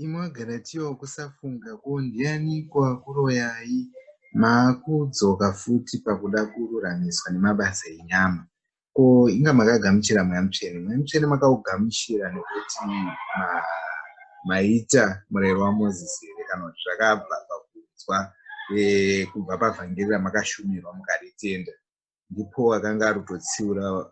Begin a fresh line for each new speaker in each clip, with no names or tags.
Imwe agara tiyo kusafunga ko ndiani kwakuroyai maakudzoka futi pakuda kururamiswa nemabasa enyama ko inga makagamuchira mweya mutsvene mweya mutsvene makaugamuchira nekuti ma, maita murero wamoses here kana kuti zvakabva pakunzwa e, kubva pavhangeri ramakashumirwa mukaritenda ndipo akanga ari kutotsiura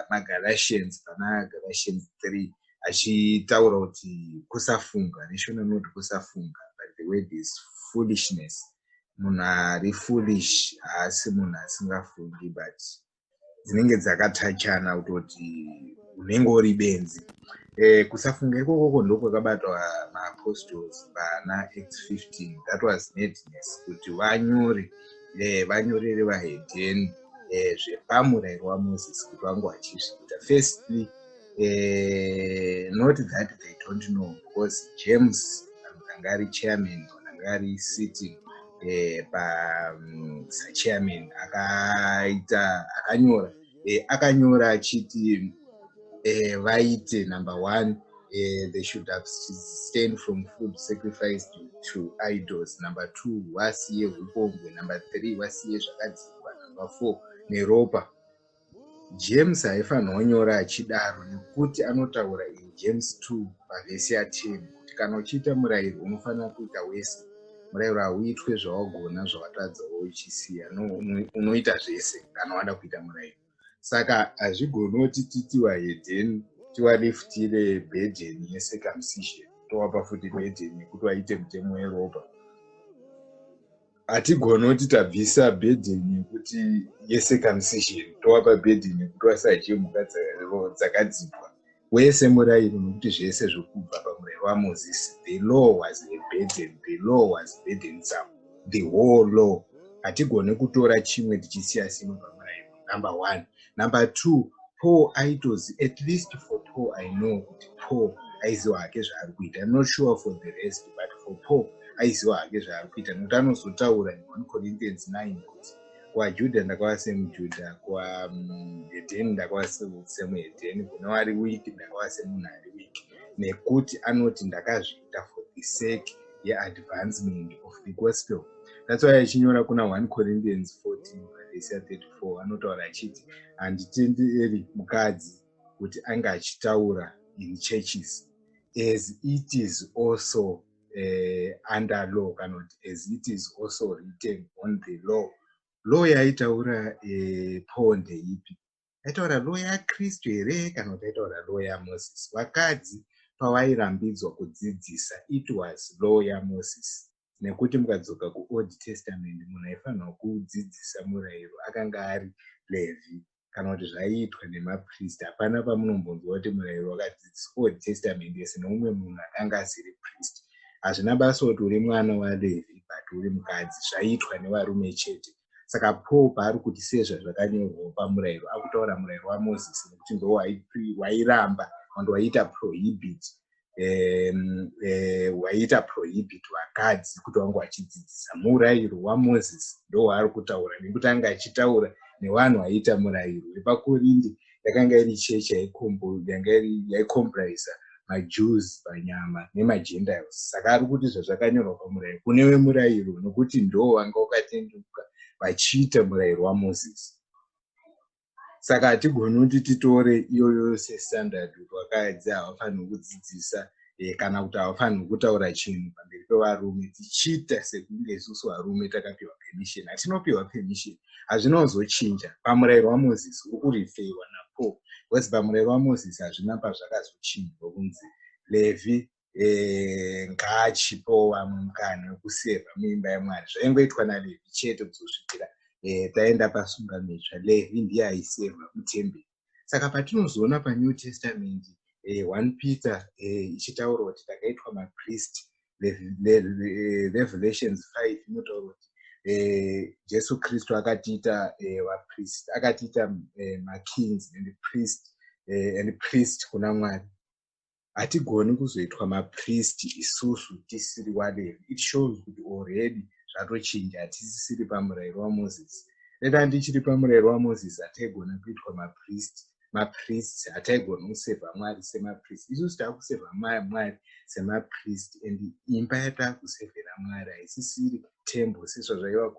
vanagalatians pana galatians three achitaura kuti kusafunga neshona noti kusafunga but the word is foolishness munhu ari foolish haasi munhu asingafungi but dzinenge dzakatachana kutoti unenge uri benzi eh, kusafunga ikokoko ndokwakabatwa maapostles vana x 15 that was madness kuti vanyore eh, vanyorere vahedheni eh, zvepamurayiro wamoses kuti vange vachizviita firstly eh, not that they don't know because james anga ari chairman kana anga ari sitting eh, pasachairman mm, akaita akanyora eh, akanyora achiti eh, vaite eh, number one eh, they should abstain from food sacrifice to, to idols number two vasiye upombwe number three vasiye zvakadzikwa number four neropa james haifanira kunyora achidaro nekuti anotaura in james 2 pavhesi ya 10 kuti kana uchiita murayiro unofanira kuita wese murayiro hauitwe zvawagona zvawatadza uchisiya no unoita zvese kana wada kuita murayiro saka hazvigoni kuti titiwa hedeni tiwaliftire bedeni yecircumcision towapa futi bedeni yekuti waite mutemo weropa hatigoni kuti tabvisa bedeni yekuti yecircumcision towapa bedeni yekuti wasadye mhuka dzakadzipwa wese murairo nokuti zvese zvokubva pamurayiro wamozisi the law was a burden the law was burdensome the whole law hatigone kutora chimwe tichisiya simwe pamurayiro number one number two paul aitozi at least for paul i know kuti paul aiziva hake zvaari kuita im not sure for the rest but for paul aiziva hake zvaari kuita nokuti anozotaura in one corinthians 9 kuti kuvajuda ndakava semujuda kuvaedheni ndakava semuedheni kune wari wiki ndakava semunhu ari wiki nekuti anoti ndakazviita for the sake yeadvancement of the gospel that's why achinyora kuna 1 corinthians 14 vese 34 anotaura achiti handitenderi mukadzi kuti ange achitaura in churches as it is also uh, under law kana kuti as it is also written on the law law yaitaura eh, paul ndeipi yaitaura law yakristu here kana kuti yaitaura law yamoses vakadzi pavairambidzwa kudzidzisa it was law yamoses nekuti mukadzoka kuold testament munhu aifanirwa kudzidzisa murayiro akanga ari levhi kana kuti zvaiitwa nemapriest hapana pamunombonzwa kuti murayiro wakadzidziswa old testament yese neumwe munhu akanga asiri priest hazvina basa kuti uri mwana walevi but uri mukadzi zvaiitwa nevarume chete saka paul paari kuti sezvazvakanyorwawo pamurayiro akutaura murayiro wamozisi nekuti ndo wairamba and waiita prohibit hwaiita um, uh, prohibit vakadzi kuti vange vachidzidzisa murayiro wamoses ndo waari kutaura nekuti anga achitaura nevanhu vaiita murayiro wepakorindi yakanga iri chechi yaikomprisa majews panyama nemagentiles saka ari kuti zvazvakanyorwa pamurayiro kune vemurayiro nokuti ndo vanga vakatenduka vachiita murayiro wamoses saka hatigoni kuti titore iyoyo sestandard kuti wakadzi havafaniri kudzidzisa eh, kana kuti havafaniri kutaura chinhu pamberi pevarume tichiita sekunge isusu varume takapiwa permission hatinopiwa permission hazvina kuzochinja pamurayiro wamozisi uri kurifeiwa napo bcause pamurayiro wamozisi hazvina pazvakazochinjwa kunzi levi eh, ngaachipewo vamwe mukana wekuseva muimba yemwari zvaingoitwa nalevi chete kuzosvikira eh, taenda pasunga mitsva levi ndiye aiseva mutemberi saka patinozoona panew testament eh, one peter ichitaura kuti takaitwa mapriest revelations five inotaura kuti Eh, jesu kristu akatiita eh, vapriest akatiita eh, makings and priest and priest kuna mwari hatigoni kuzoitwa mapristi isusu tisiri walevi it shows kuti already zvatochinja hatisisiri pamurayiro wamozisi rega ndichiri pamurayiro wamozisi hataigona kuitwa mapristi mapristi hataigona kusevha mwari semapristi isusu taakusevha mwari semapristi and imba yataakusevhera mwari haisisiri tembo sezvazvaiva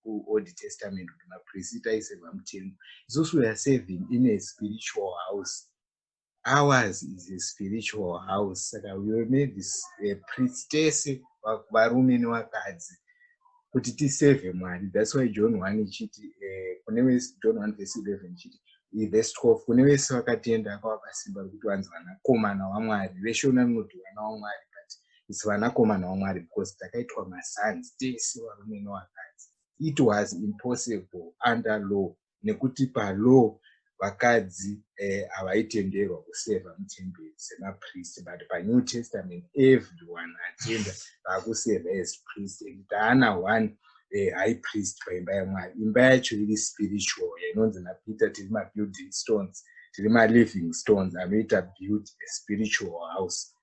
kuold testament kuti mapristi taisevha mutembo isusu weare saving in a spiritual house ours is a spiritual house saka we were made eh, priest tese varume nevakadzi kuti tisevhe mwari thats why john one ichiti eh, kune vese john one vese 11 ichiti vese 12 kune vese vakatenda akavakasimba rekuti vanzi vanakomana wamwari veshona rinoti vana wamwari but its vanakomana wamwari because takaitwa masanzi tese varume nevakadzi it was impossible under law nekuti palaw vakadzi eh, havaitenderwa eh, kuseva mutemberi semapriest but panew testament everyone atenda vaakuseva as priest and taana one eh, high priest paimba yamwari imba yacho iri spiritual yainonzi napeter tiri mabuilding stones tiri maliving stones anoita build a spiritual house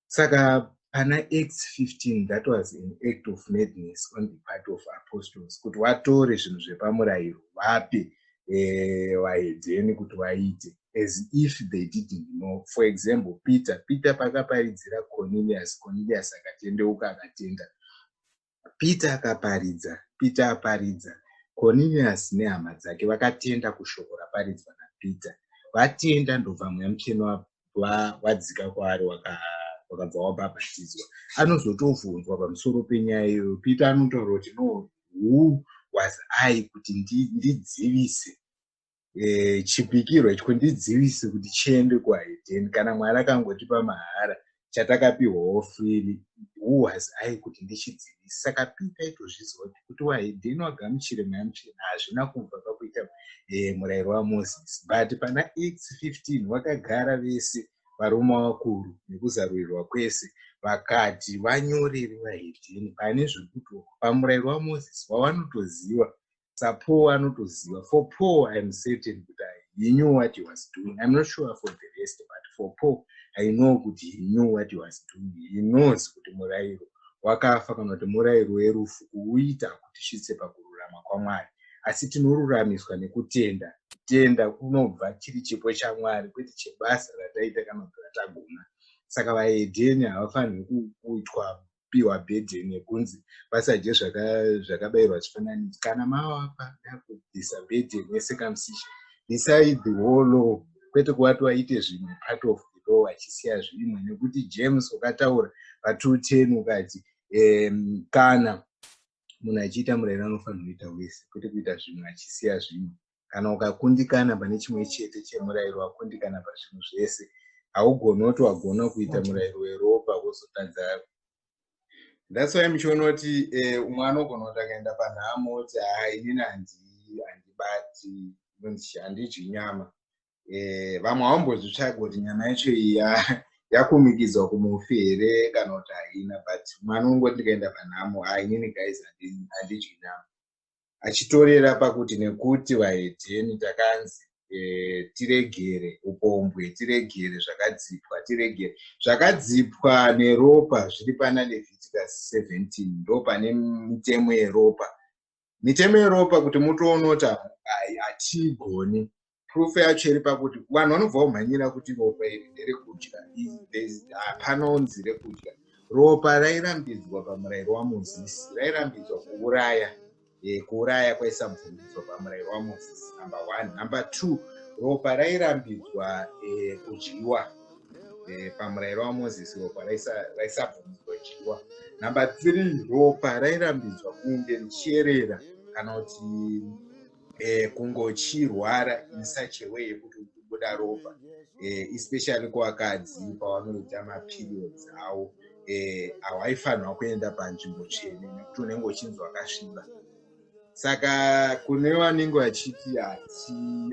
saka pana acts 15 that was an act of madness on the part of apostles kuti watore zvinhu zvepamurayiro vape eh, vaedzeni kuti vaite as if they didn't know for example peter peter pakaparidzira cornelius cornelius akatendeuka akatenda Peter akaparidza, Peter aparidza. Koniriasi nehama dzake vakatenda kushoko raparidzwa naPeter. Vatenda ndobva Mweya Mutsvene wa- wa- wadzika kwaari waka- wakabva wabhabhatidzwa. Anozotobvunzwa pamusoro penyaya iyoyo. Peter anotaura kuti no who was I kuti ndi- ndidzivise. eh, chipikirwa ichi kundidzivise kuti chiende kuhaidheni kana mwari akangotipa mahara chatakapihwawo frili who was i kuti ndichidzivise saka pita itozviziva kuti kuti wahidheni wagamuchire mayamuchena hazvina kubva pakuita eh, murayiro wamoses but pana x 15 wakagara vese varume vakuru nekuzarurirwa kwese vakati vanyoreri vahedheni pane zvekuti pamurayiro wamoses wavanotoziva sapaul anotoziva for paul iam certain kuti he knew what he was doing iam not sure for the rest but for paul i know kuti he knew what he was doing he knows kuti murairo wakafa kana kuti murairo werufu kuuita kuti svitse pakururama kwamwari asi tinoruramiswa nekutenda kutenda kunobva chiri chipo chamwari kwete chebasa rataita kana kuti ratagona saka vahedheni havafaniri kuitwa kupiwa burden yekunzi vasadye zvakabairwa chifananidzo kana mavapa yakubvisa burden yecircumcision bvisai the whole law kwete kuvati waite zvimwe part of the law achisiya zvimwe nekuti james ukataura patwo ten ukati um, kana munhu achiita murayiro anofanira kuita wese kwete kuita zvimwe achisiya zvimwe kana ukakundikana pane chimwe chete chemurayiro wakundikana pazvinhu zvese haugoni woti wagona kuita murayiro weropa wozotadza thats why muchiona kuti eh, umwe anogona kuti akaenda panhamo oti haa inini handibati handidyi nyama eh, vamwe haumbozvitsvaga kuti nyama yacho iya yakumikidzwa kumufi here kana kuti haina but mwana ungoti ndikaenda panhamo haa inini guys handidyi nyama achitorera pakuti nekuti vahedheni takanzi e, tiregere upombwe tiregere zvakadzipwa tiregere zvakadzipwa neropa zviri pana leviticus 17 ndo pane mitemo yeropa mitemo yeropa kuti mutoonoti hatigoni proof yacho iri pakuti vanhu vanobva vomhanyira kuti ropa iri nderekudya hapana unzi rekudya ropa rairambidzwa pamurayiro wamozisi rairambidzwa kuuraya eh, kuuraya kwaisabvundidzwa pamurayiro wamozisi number one number two ropa rairambidzwa eh, kudyiwa eh, pamurayiro wamozisi ropa raisabvundidzwa kudyiwa number three ropa rairambidzwa kunge richierera kana kuti eh, kungochirwara in such a way yekuti uchibuda ropa eh, especially kuvakadzi pavanoita maperiods awo eh, hawaifanirwa kuenda panzvimbo tsvene nekuti unenge uchinzi wakasviba saka kune vanenge vachiti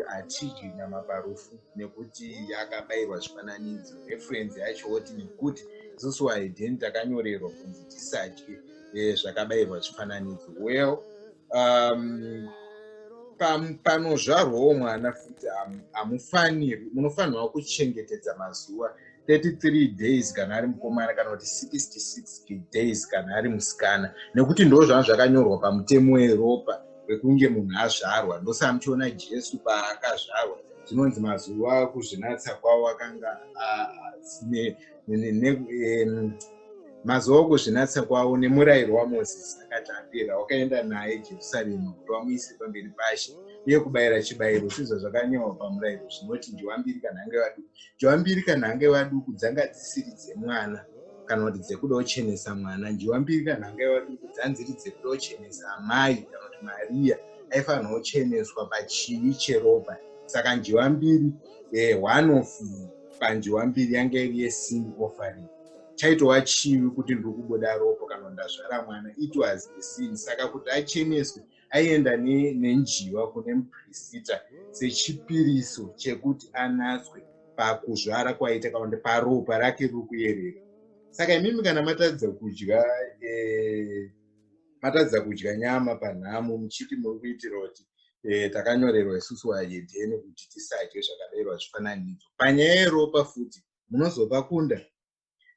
hatidyi nyama parufu nekuti yakabayirwa zvifananidzo referensi yacho woti nekuti isusu waidheni takanyorerwa kunzi tisadye eh, zvakabayirwa zvifananidzo well um, panozvarwawo mwana futi hamufanirwi munofanirwa kuchengetedza mazuva 33 days kana ari mukomana kana kuti 66 days kana ari musikana nekuti ndo zvanga zvakanyorwa pamutemo weropa wekunge munhu azvarwa ndosaa muchiona jesu paakazvarwa zvinonzi mazuva kuzvinatsa kwavo akanga asine mazuva okuzvinatsa kwavo nemurayiro wamozisi akati apera wakaenda naye jerusarema kuti vamuise pamberi pashe uye kubayira chibayiro sizvo zvakanyorwa pamurayiro zvinoti njiwambiri kana ange vaduku njiwambiri kana ange vaduku dzanga dzisiri dzemwana kana kuti dzekuda kuchenesa mwana njiwambiri kana ange vaduku dzanziri dzekuda kuchenesa amai kana kuti mariya aifanirwa kucheneswa pachivi cheropa saka njiwambiri eh, one of panjiwa mbiri yanga iri yesing offering chaitova chivi kuti ndiri kubuda ropo kana ndazvara mwana it was a sin saka kuti acheneswe aienda nenjiva kune muprisita sechipiriso chekuti anatswe pakuzvara kwaita kana kuti paropa rake riri kuyerera saka imimi kana matadza kudya eh, matadza kudya nyama panhamo muchiti muri kuitira kuti eh, takanyorerwa isusu vayedheni kuti tisadye zvakaderwa zvifananidzo panyaya yeropa futi munozovakunda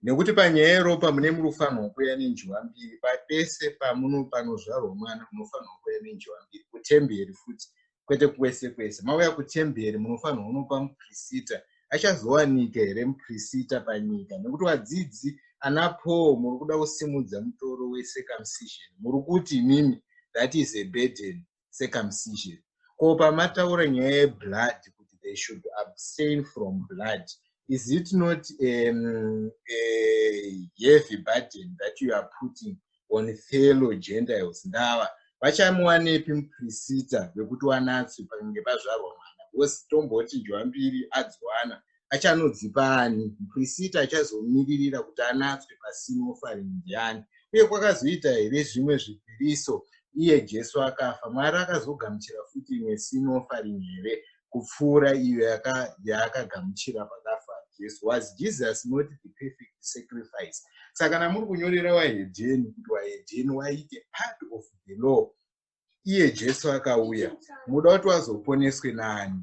nekuti panyaya yeropa mune munofanirwa kuuya nenjiwa mbiri papese pamuno panozvarwa mwana munofanirwa kuuya nenjiwa mbiri kutemberi futi kwete kwese kwese mauya kutemberi munofanirwa unopa muprisita achazowanika here muprisita panyika nekuti vadzidzi ana paul muri kuda kusimudza mutoro wecircumcision muri kuti imimi that is a burden circumcision ko pamataura nyaya yeblood kuti they should abstain from blood is it not um, a heavy burden that you are putting on fellow gentiles ndava vachamuwanepi muprisita vekuti wanatswi pakange pazvarwa mwana because tomboti njwambiri adziwana achanodzipa ani muprisita achazomiririra kuti anatswe pasino faring ndiani uye kwakazoita here zvimwe zvipiriso iye jesu akafa mwari akazogamuchira futi imwe sino faring here kupfuura iyo yaakagamuchira pakafa jesu was jesus not the perfect sacrifice saka kana muri kunyorera wahedheni kuti wahedheni waite part of the law iye jesu akauya muda kuti wazoponeswe naani